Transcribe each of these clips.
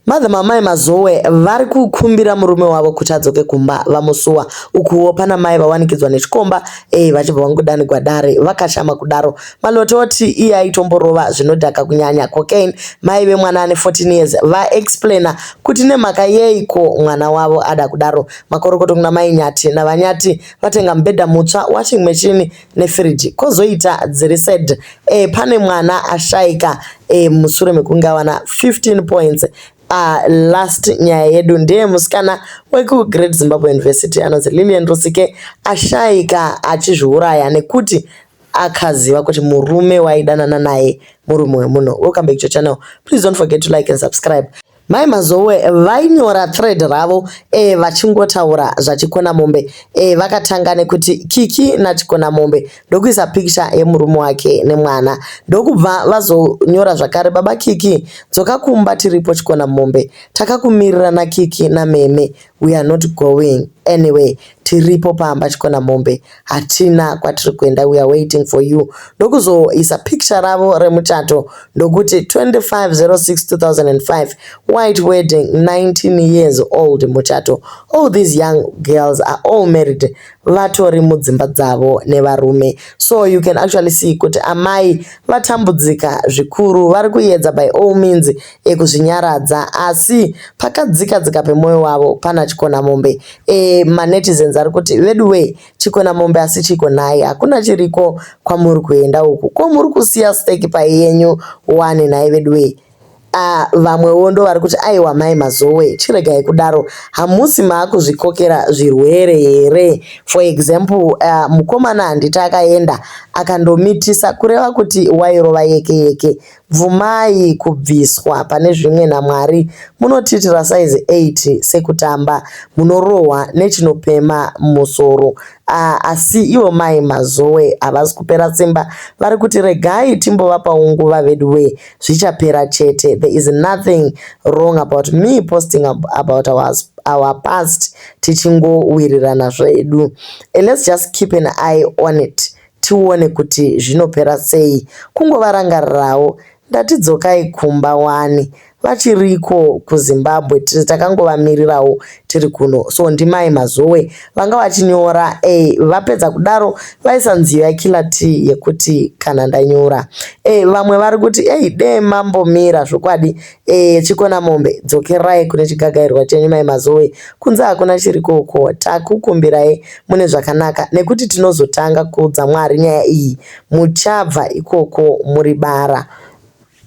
Mother mamai Mazowe vari kukumbira murume wavo kuti adzoke kumba vamusuwa. Ukuwo pana mai vawanikidzwa nechikomba eh vachibva vangodanigwa dare vakashama kudaro. Maloto oti iye aitomborova zvinodhaka kunyanya cocaine. Mai vemwana ane 14 years va explainer kuti nemhaka yeiko mwana wavo ada kudaro. Makorokoto kuna mai Nyati naVaNyati vatenga mubhedha mutsva, washing machine, nefiriji kozoita dziri sad e, pane mwana ashaika e, mushure mekunge awana 15 points Uh, last nyaya yedu ndeye musikana wekugreat zimbabwe university anonzi lilian rusike ashaika achizviuraya nekuti akaziva kuti murume waidanana naye murume wemunhu welcome back to channel please don't forget to like and subscribe Mai Mazowe vainyora thread ravo e, vachingotaura zvaChikonamombe e, vakatanga nekuti Kiki naChikonamombe ndokuisa picture yemurume wake nemwana ndokubva vazonyora zvakare baba Kiki dzoka kumba tiripo Chikonamombe takakumirira naKiki nameme we are not going anyway Tiripo pamba Chikonamombe hatina kwatiri kuenda we are waiting for you ndokuzoisa picture ravo remuchato ndokuti 25062005 white wedding 19 years old muchato all these young girls are all married vatori mudzimba dzavo nevarume so you can actually see kuti amai vatambudzika zvikuru vari kuyedza by all means ekuzvinyaradza asi pakadzika dzika pemwoyo wavo pana Chikonamombe e, manetizens ari kuti veduwee Chikonamombe asi chiko nhai hakuna chiriko kwamuri kuenda uku ko muri kusiya steki pai yenyu wani nhai veduwee Ah, vamwewo ndo vari kuti aiwa mai mazowe chiregai kudaro hamusi maakuzvikokera zvirwere here for example uh, mukomana handiti akaenda akandomitisa kureva kuti wairova yeke yeke Bvumai kubviswa pane zvimwe naMwari munotiitira size 8 sekutamba munorohwa nechinopema musoro ah, asi ivo mai Mazoe havazi kupera simba vari kuti regai timbovapawo nguva veduwee zvichapera chete there is nothing wrong about me posting about our, our past tichingowirirana zvedu and let's just keep an eye on it tione kuti zvinopera sei kungovarangarirawo ndati dzokai kumba wani vachiriko kuzimbabwe tiri takangovamirirawo tiri kuno so ndimai mazowe vanga vachinyora e vapedza kudaro vaisa nziyo yakila t yekuti kana ndanyura e vamwe vari kuti ei dee mambomira zvokwadi Eh, chikona mombe dzokerai kune chigagairwa chenyu mai mazoe kunze hakuna chiri koko takukumbirai mune zvakanaka nekuti tinozotanga kuudza mwari nyaya iyi muchabva ikoko muri bara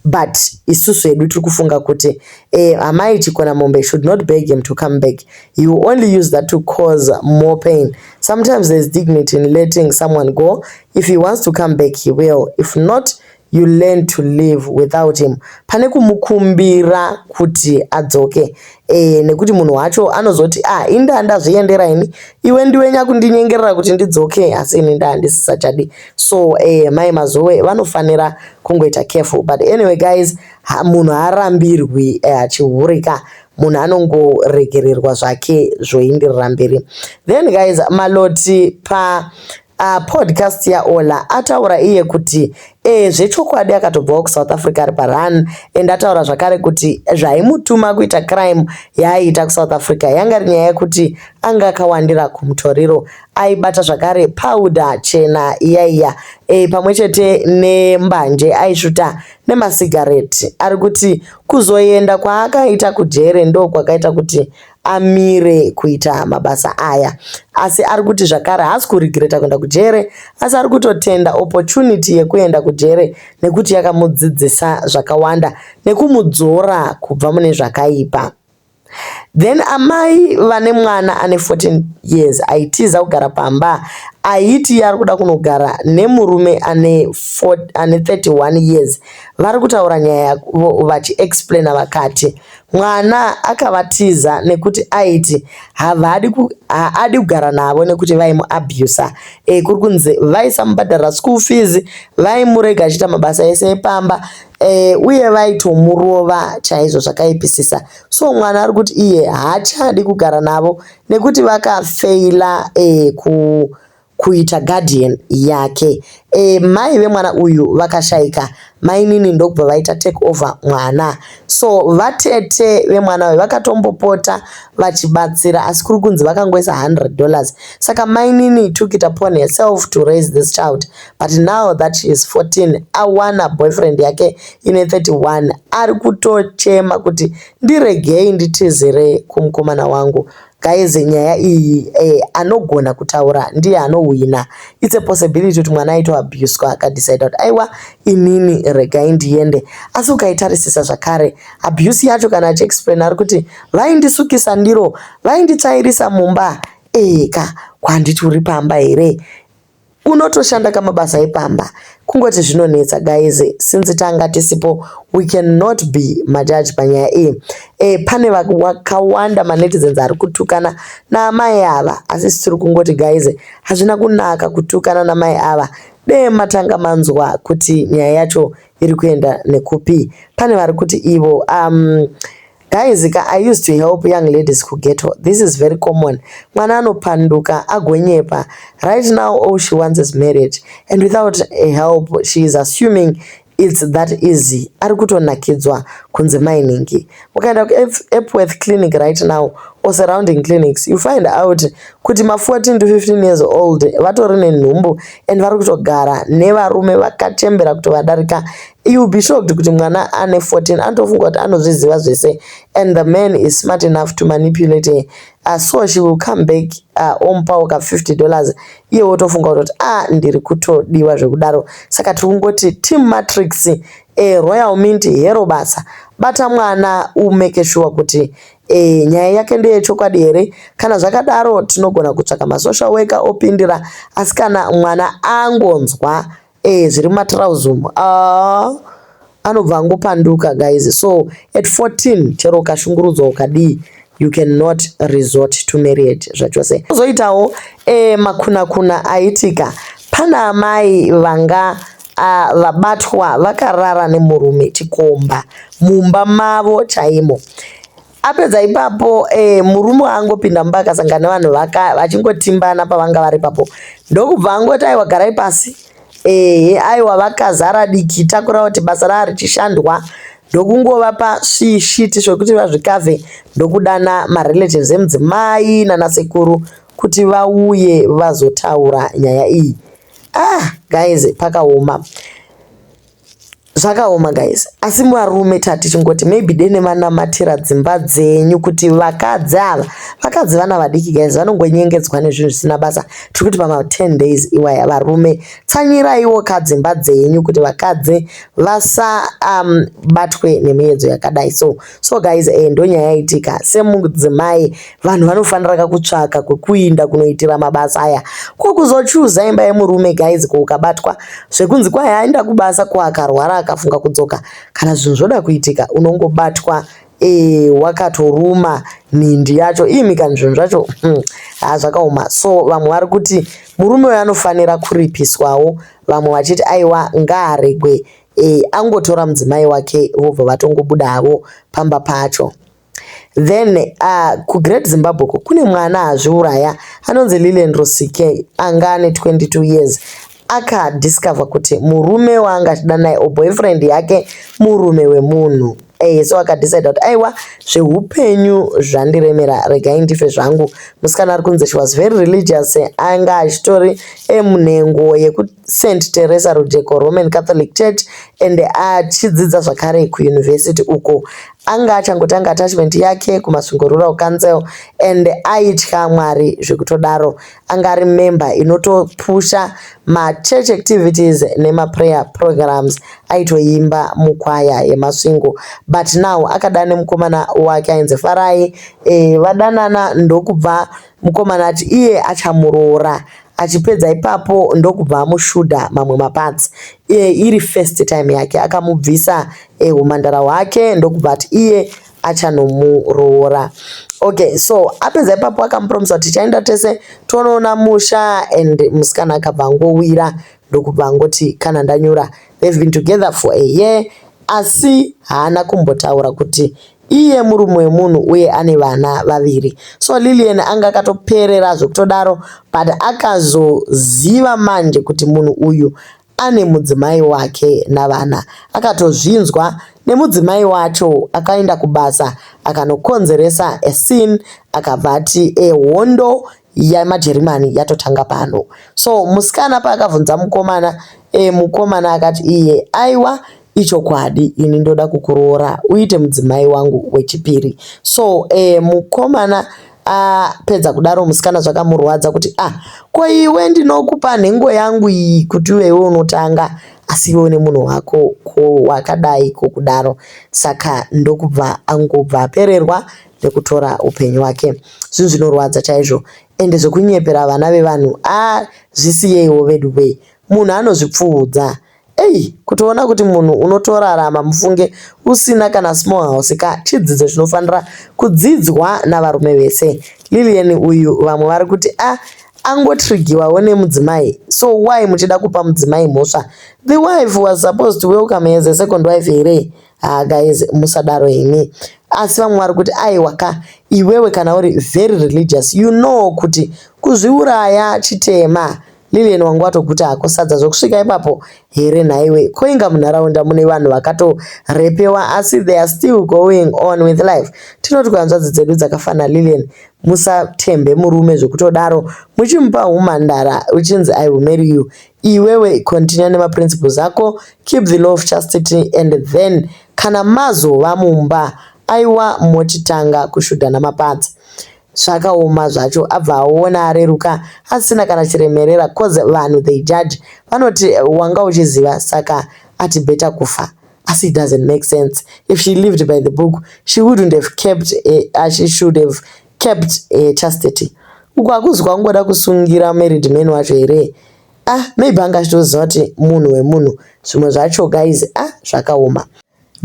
but isusu hedu tiri kufunga kuti eh, amai chikona mombe should not beg him to come back he will only use that to cause more pain sometimes there's dignity in letting someone go if he wants to come back he will if not you learn to live without him pane kumukumbira kuti adzoke e, nekuti munhu wacho anozoti ah ini ndaa ndazviendera ini iwe ndiwe nyakundinyengerera kuti ndidzoke asi ini ndaa ndisisachadi so e, mai mazowe vanofanira kungoita careful but anyway guys ha, munhu haarambirwi eh, achihurika e, munhu anongoregererwa zvake zvoindirira mberi then guys maloti pa Ah, podcast yaola ataura iye kuti e, zvechokwadi akatobvawo kusouth africa ari parun and ataura zvakare kuti zvaimutuma kuita crime yaaiita kusouth africa yanga ri nyaya yekuti anga akawandira kumutoriro aibata zvakare pauda chena iyaiya e, pamwe chete nembanje aisvuta nemasigareti ari kuti kuzoenda kwaakaita kujere ndo kwakaita kuti amire kuita mabasa aya asi ari kuti zvakare haasi kuregreta kuenda kujere asi ari kutotenda opportunity yekuenda kujere nekuti yakamudzidzisa zvakawanda nekumudzora kubva mune zvakaipa then amai vane mwana ane 14 years aitiza kugara pamba aiti ari kuda kunogara nemurume ane 31 years vari kutaura nyaya yavo vachiexplaina vakati Mwana akavatiza nekuti aiti havadi ku, haadi kugara navo nekuti vaimuabuser. E, kuri kunzi vaisamubhadharira school fees, vaimurega achiita mabasa ese epamba e, uye vaitomurova chaizvo zvakaipisisa. So mwana ari kuti iye haachadi kugara navo nekuti vakafeila e, ku kuita guardian yake eeh mai vemwana uyu vakashaika mainini ndokubva vaita take over mwana so vatete vemwana uyu vakatombopota vachibatsira asi kuri kunzi vakangoisa 100 dollars saka mainini took it upon herself to raise this child but now that she is 14 awana boyfriend yake ine 31 ari kutochema kuti ndiregei nditizire kumukomana wangu Guys nyaya iyi eh, anogona kutaura ndiye anohwina. It's a possibility kuti mwana aito abuswa akadecide kuti aiwa inini regai ndiende. Asi ukaitarisisa zvakare abuse yacho kana achiexplain ari kuti vaindisukisa ndiro, vainditsvairisa mumba. Eka kwanditi uri pamba here? Unotoshanda ka mabasa epamba kungoti zvinonetsa guys since tanga tisipo we can not be majudge panyaya iyi. Eh pane vakawanda ma netizens ari kutukana na amai ava asi isu tiri kungoti guys hazvina kunaka kutukana na mai ava dee matanga manzwa kuti nyaya yacho iri kuenda nekupi. Pane vari kuti ivo umm Guys ka I used to help young ladies ku ghetto. This is very common. Mwana anopanduka agonyepa. Right now all she wants is marriage and without help she is assuming it's that easy. Ari kutonakidzwa kunze mainingi. Ukaenda ku Epworth clinic right now or surrounding clinics you find out kuti ma 14 to 15 years old vatori nenhumbu and vari kutogara nevarume vakachembera kutovadarika You'll be shocked kuti mwana ane 14 anotofunga kuti anozviziva zvese and the man is smart enough to manipulate her. Uh, so she will come back uh, omupawo ka 50 dollars iye wotofunga kutoti a ah, ndiri kutodiwa zvekudaro. Saka tiri kungoti team matrix eh, royal mint hero basa. Bata mwana umeke shuwa kuti eh, nyaya yake ndeye chokwadi here. Kana zvakadaro tinogona kutsvaka masocial worker opindira asi kana mwana angonzwa eh zviri mumatrouse umu ah anobva angopanduka guys so at 14 chero ukashungurudzwa ukadii you cannot resort to marriage zvachose kuzoitawo eh, makunakuna aitika pana amai vanga uh, vabatwa vakarara nemurume chikomba mumba mavo chaimo apedza ipapo eh, murume angopinda mumba akasangana vanhu vachingotimbana pavanga vari ipapo ndokubva angoti aiwa garai pasi ehe aiwa vakazara diki takura kuti basa raa richishandwa ndokungova pasvishiti zvekuti vazvikavhe ndokudana marelatives emudzimai nanasekuru kuti vauye vazotaura nyaya iyi ah guys pakaoma zvakaoma guys asi varume tati chingoti maybe dene vanamatira dzimba dzenyu kuti vakadzi ava vakadzi vana vadiki guys vanongonyengedzwa nezvinhu zvisina basa tiri kuti pama 10 days iwaya varume tsanyiraiwo ka dzimba dzenyu kuti vakadzi vasabatwe um, nemiyedzo yakadai so so guys eh, ndonyaya yaitika semudzimai vanhu vanofanira ka kutsvaka kwekuinda kunoitira mabasa aya ko kuzochuza imba yemurume guys ko ukabatwa zvekunzi kwai aenda kubasa ko akarwara akafunga kudzoka kana zvinhu zvoda kuitika unongobatwa e, wakatoruma mhindi yacho imi kana zvinhu zvacho hmm, ha zvakaoma so vamwe vari kuti murume uyo anofanira kuripiswawo vamwe vachiti aiwa ngaaregwe e, angotora mudzimai wake vobva vatongobuda havo pamba pacho then uh, kugreat zimbabwe ko kune mwana azviuraya anonzi lilian rusike anga ane 22 years akadiscover kuti murume waanga achida naye or boyfriend yake murume wemunhu eh, so akadecide kuti aiwa zveupenyu zvandiremera regai ndife zvangu musikana ari kunzi she was very religious anga achitori emunhengo yekuti St Teresa Rujeko Roman Catholic Church and achidzidza zvakare kuuniversity uko anga achangotanga attachment yake kuMasvingo Rural Council and aitya Mwari zvekutodaro anga ari member inotopusha machurch activities nemaprayer programs aitoimba mukwaya yeMasvingo but now akadana nemukomana wake ainzi Farai e, vadanana ndokubva Mukomana ati iye achamuroora achipedza ipapo ndokubva amushuda mamwe maparts iye iri first time yake akamubvisa eh, humhandara hwake ndokubva ati iye achanomuroora okay so apedza ipapo akamupromisa kuti tichaenda tese tonoona musha and musikana akabva angowira ndokubva angoti kana ndanyura they've been together for a year asi haana kumbotaura kuti iye murume wemunhu uye ane vana vaviri so Lilian anga akatoperera zvekutodaro but akazoziva manje kuti munhu uyu ane mudzimai wake navana akatozvinzwa nemudzimai wacho akaenda kubasa akanokonzeresa a scene akabva ati ehondo yemajerimani yatotanga pano so musikana paakavhunza mukomana e, mukomana akati iye aiwa ichokwadi ini ndoda kukuroora uite mudzimai wangu wechipiri so e, mukomana apedza kudaro musikana zvakamurwadza kuti ah ko iwe ndinokupa nhengo yangu iyi kuti uvewe unotanga asi iwe une munhu wako ko wakadai kokudaro saka ndokubva angobva apererwa nekutora upenyu hwake zvinhu zvinorwadza chaizvo ende zvekunyepera vana vevanhu ah zvisiyeiwo veduwee munhu anozvipfuudza Ei, kutoona kuti munhu unotorarama mufunge usina kana small house ka chidzidzo chinofanira kudzidzwa navarume vese. Lilian uyu vamwe vari kuti a ah, angotrigiwawo nemudzimai so why muchida kupa mudzimai mhosva the wife was supposed to welcome as a second wife here Haa guys musadaro imi. Asi vamwe vari kuti aiwa ka iwewe kana uri very religious you know kuti kuzviuraya chitema. Lilian wangu watoguta hako sadza zvokusvika ipapo here nhaiwe ko inga munharaunda mune vanhu vakatorepewa asi they are still going on with life tinoti kuhanzvadzi dzedu dzakafanira Lilian musatembe murume zvekutodaro muchimupa humhandara uchinzi I will marry you iwewe continue nema principles ako keep the law of chastity and then kana mazova mumba aiwa mochitanga kushudhana mapadza zvakaoma zvacho abva aona areruka asina kana chiremerera cause vanhu they judge vanoti wanga uchiziva saka ati better kufa asi it doesn't make sense if she lived by the book she wouldn't have kept uh, she should have Capt eh Chastity uku hakuzi kwakungoda kusungira married man wacho here ah maybe anga achitoziva kuti munhu wemunhu zvimwe zvacho guys ah zvakaoma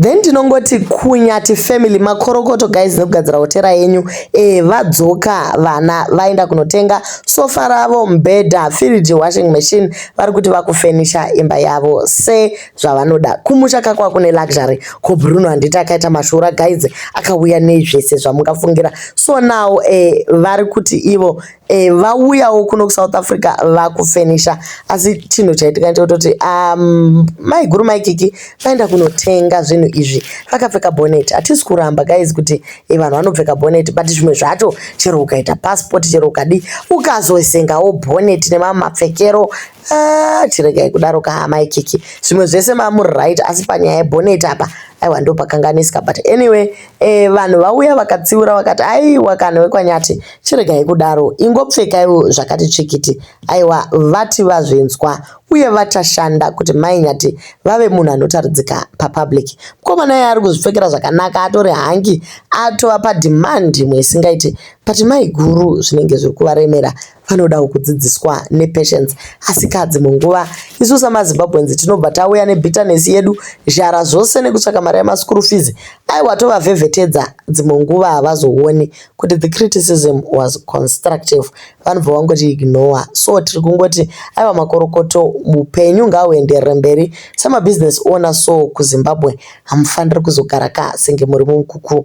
then tinongoti kunyati family makorokoto guys nekugadzira hotera yenyu eh vadzoka vana vaenda kunotenga sofa ravo mbhedha firiji washing machine vari kuti vakufenisha imba yavo se zvavanoda kumusha kakwa kune luxury ko bruno handiti akaita mashura guys akauya nei zvese zvamungafungira so now eh, vari kuti ivo eh, vauyawo kuno kusouth africa vakufenisha asi chinhu chaitika ndechekutoti um, maiguru maikiki vaenda kunotenga zvinhu izvi vakapfeka bonet hatisi kuramba guys kuti eh, vanhu vanopfeka bonet but zvimwe zvacho chero ukaita passport chero ukadi ukazoisengawo bonet nemamapfekero Ah, chiregai kudaro ka amai kiki zvimwe zvese mamuri right asi panyaya yebonet apa aiwa ndo pakanganisika but anyway eh, vanhu vauya vakatsiura vakati aiwa kana wekwanyati chiregai kudaro ingopfekaiwo zvakati tsvikiti aiwa vati vazvinzwa uye vachashanda kuti mai nyati vave munhu anotaridzika papublic mukoma naye ari kuzvipfekera zvakanaka atori hangi atova pademand imwe isingaiti but mai guru zvinenge zviri kuvaremera vanodawo kudzidziswa nepatience asikadzi munguva isu samazimbabweans tinobva tauya nebitterness yedu zhara zvose nekutsvaka mari yemaschool fees aiwa tovavhevhetedza dzimwe nguva havazooni kuti the criticism was constructive vanobva vangoti ignore so tiri kungoti aiwa makorokoto mupenyu ngauenderere mberi semabusiness owner so kuzimbabwe hamufaniri kuzogara ka senge muri mumukukuru